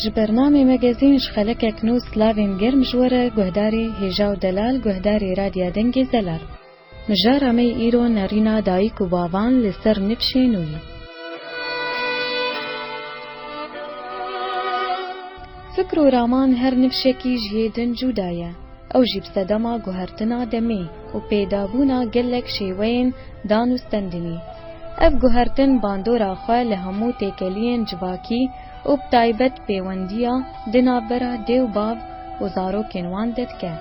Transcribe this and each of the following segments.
Ji bernamê Magazîn ji xelekek nû slavên germ ji we re guhdarî Hêja û Delal guhdarî Radya Dengê Zelal. Mijara me yê îro nerîna dayîk û bavan li ser nifşê nû yî. Fikr û raman her nifşekî ji yê din cûda ye. Ew jî bi sedema guhertina demê û pêdabûna gelek şêweyên dan û stendinî. Ev guhertin bandora xwe li hemû têkeliyên civakî û bi taybet pêwendiya di navbera dê û bav û zarokên wan de dike.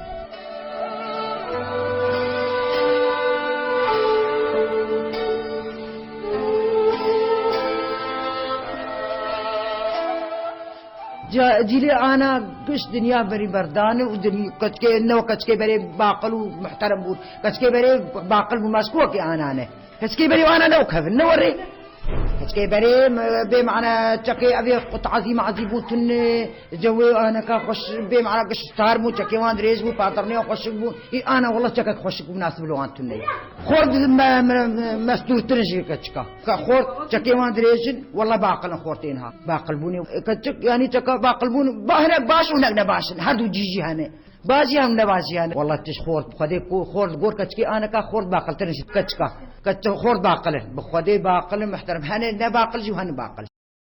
Ca cîlê ana giş dinya berî ber dane û din keçikê no keçikê berê baqil û muhterem bûn. Keçikê berê baqil bûn mas kuwekê ana ne. Keçikê berê û ana no kevin ne werê. Keçikê berê bê mana çekê evê xwe tazî mazî bû tun cewê aneka xweş bê mana giş sar bû çekê wan dirêj bû paternê wan xweşik bû. Î ana wila çekek xweşik û minasib li wan tun neyê. Xort mestûrtir in ji vê keçika. Ka xort çekên wan dirêj in, walla baqil in xortê niha. Baqilbûnê ka çek yanî çeka baqilbûn ba hinek baş û hinek nebaş in. Her du cî jî hene. Baş jî hene baş jî hene. Walla tij xort bi xwedê ku xort li gor keçikê ane ka xort baqiltir in ji keçika. Keçik xort baqil in. Bi xwedê baqil in mihterem. Hene nebaqil jî û hene baqil.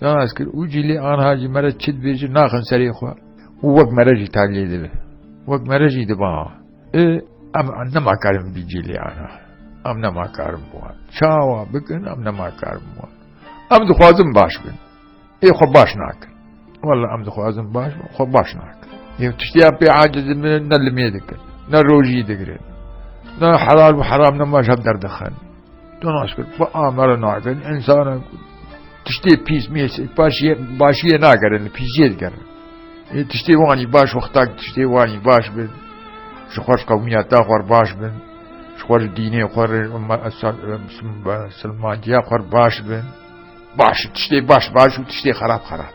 Danas kir û cîlê anha ji me re çi dibêjin naxin serê xwe û wek me re jî taliyê dibe. Wek me re jî dibe ha. Ê em nema kar in bi cîlê anha. Em nema kar in bi wan çawa bikin em nema kar in bi wan. Em dixwazin baş bin. Ê xwe baş nakin. Wela em dixwazin baş bin xwe baş nakin. Ê tiştiyan pê aciz in ne li mêr dikin. Ne rojî digirin. Ne helal û heram nema ji hev derdixin. تو naşkir xwe amera nakin insana tiştê pîs mês başiye başiye nagerin pîsiyê digerin ê tiştê wanî baş wexta tiştê wanî baş bin ji xweş qewmiya ta xwar baş bin ji xwe ji dînê xwe silmandiya xwar baş bin baş tiştê baş baş û tiştê xerab xerab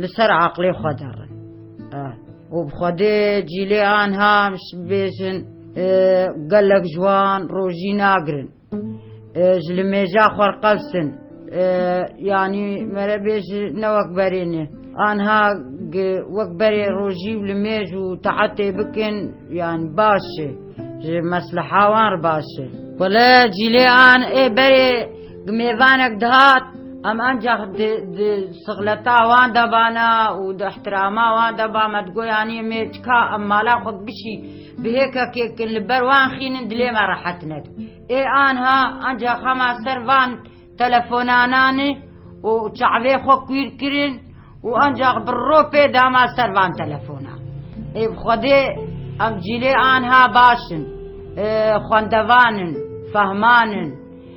Li ser aqlê xwe de rin. Û bi xwedê cîlê anha em ji bêjin gelek ji wan rojî nagirin. Ji li mêja xwe re qels in. Yanî mere bêjin ne wek berê ne. Anha wek berê rojî û li mêj û taetê bikin yanî baş e. Ji mesleha wan re baş e. Wele cîlê an ê berê Mêvanek dihat em ancak di di sixleta wan de bana û di îhtirama wan de ba me digoyanî mê çika em mala xwe bişî bi hêkekê kin li ber wan xînin dilê me rehet nebe. Ê anha ancak hema ser van telefonanan e û çavê xwe kûr kirin û ancak bi ropê dama ser van telefonan. Ê bi xwedê em cîlê anha baş in, xwendevan in, fehman in.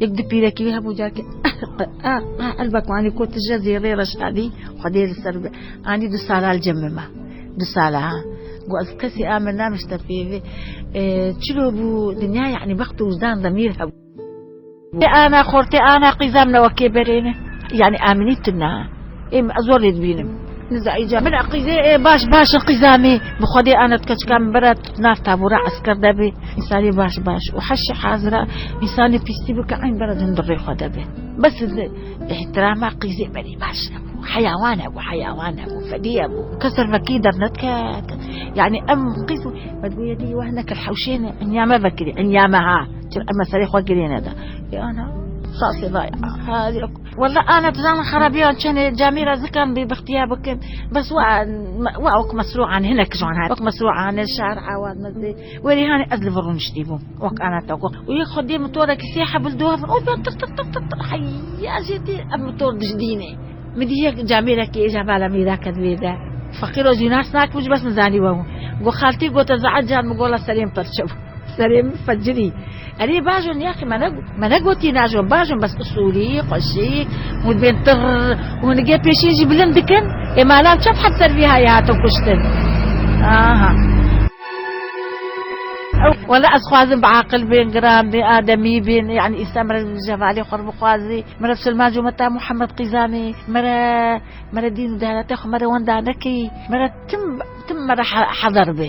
Yek du pîrekî wî hebû carkê elbek anî ku tu ji zêrê re şadî xwedê li ser be anî du sala li cem min ma du sala ha got ez kesî a min namişte pêvê çilo bû dinya yanî bext û wijdan demîr hebû ana xortê ana qîza min wekê berêne yanî aminî tu na Ê min ez zor lê dibînim. Nizayîca min eqîzê ê baş baş in qîzanî bi xwedê anet ke çika min bira tu nav tabûra esker de bî însanî baş baş û heşî hazira însanî pîstî bi ke eyn bira din di rê xwe de bê. Bes di îhtirama qîzê berî baş hebû. Heyawan hebû heyawan hebû fedî hebû. Kes ser vekî dernediket. Yanî em qîz me digûye dî weh nekir hewşê ne inya me vekirî inya me ha. Çi em me serê xwe girê neda. Ê ana sasê daya. Walla ana dizanin xerabiyan çend e camî ra zikan bê bixtîya bikin bes wa wa wek mesrûan hinek ji wan hate wek mesrûan li şar awad mezê werî hanê ez li vir rûniştî bûm wek ana te got û yek xwediyê mitorekî sê hebil du hev û ben tiq tiq tiq tiq tiq heyya ez jê tê ev mitor dijdînê min dît yek camîrekî êja bala min ra ket wê de feqîro jî nas nakim ji bes min zanî we hûn got xaltî gote zehar can min gola serê min pirçe bû. Serê min fecirî. Erê bajo niyaqî me me negotî najo bajo bes usulî xweşî û dibên tirr û nigê pêşîn jî bilind dikin ê ma lav çend heb ser vî hayê hatin kuştin aha. Wela ez xwazim bi aqil bên giran bên ademî bên yanî îsta mere ji hevalê xwe re bixwazî mere bi silman jo me ta Muhammed Qîzanê mere mere dîn û deyanetê xwe mere wenda nekî mere tim tim mere hezar bê.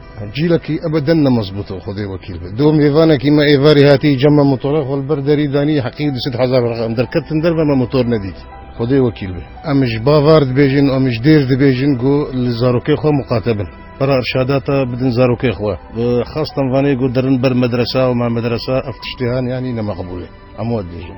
Cîlekî ebeden ne mezbût o, Xwedê wekîl be. Do mêvanekî me êvarî hatî îca me motora xwe li ber derî danî heqî û du sed hezar werqe. Em derketin derve me motor nedît. Xwedê wekîl be. Em ji bavar dibêjin û em ji dêr dibêjin ku li zarokê xwe muqate bin. Pera irşadata bidin zarokê xwe. Bi xas dem vanê ku derin ber medresa û me medresa ev tiştê hene yanî ne meqbûl e. Hemû we dibêjin.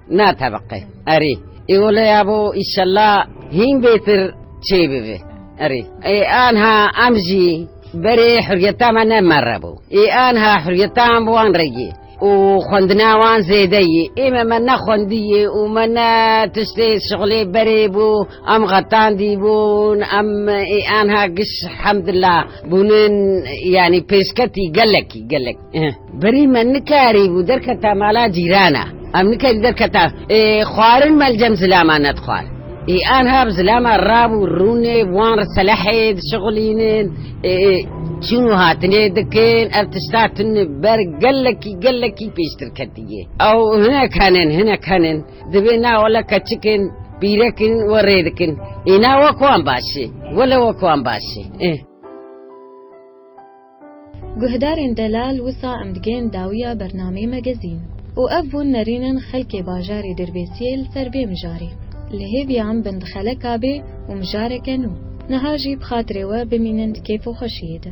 Na tebeqe erê îwle ya bo îşella hîn bêtir çê bibe erê ê anha em jî berê huriyeta me ne merre bo ê anha huriyeta em bi wan re yê û xwendina wan zêde yê ê me me ne xwendî yê û me ne tiştê şixulê berê bo em xetandî bûn em ê anha giş hemdilla bûnin yanî pêşketî gelekî gelek. Berî me nikarî bû derketa mala cîrana. Em nikarî derketa xwarin me li cem zilaman ne dixwar. Ê anha bi zilama rav û rûnê wan re selehê dişixulînin, çûn û hatinê dikin. Ev tişta tune ber gelekî gelekî pêştir ketiye. Ew hinek henin hinek henin dibê na wele keçikin pîrekin we rê dikin. Ê na wek wan baş e. Wele wek wan baş e. Guhdarên delal wisa em digên dawiya bernameyê me gezîn. Û ev bûn nerînin xelkê bajarê Dirbêsiyê li ser vê mijarê. Li hêviya em bin di xeleka bê û mijareke nû. Niha jî bi xatirê we bimînin di kêf û xweşiyê de.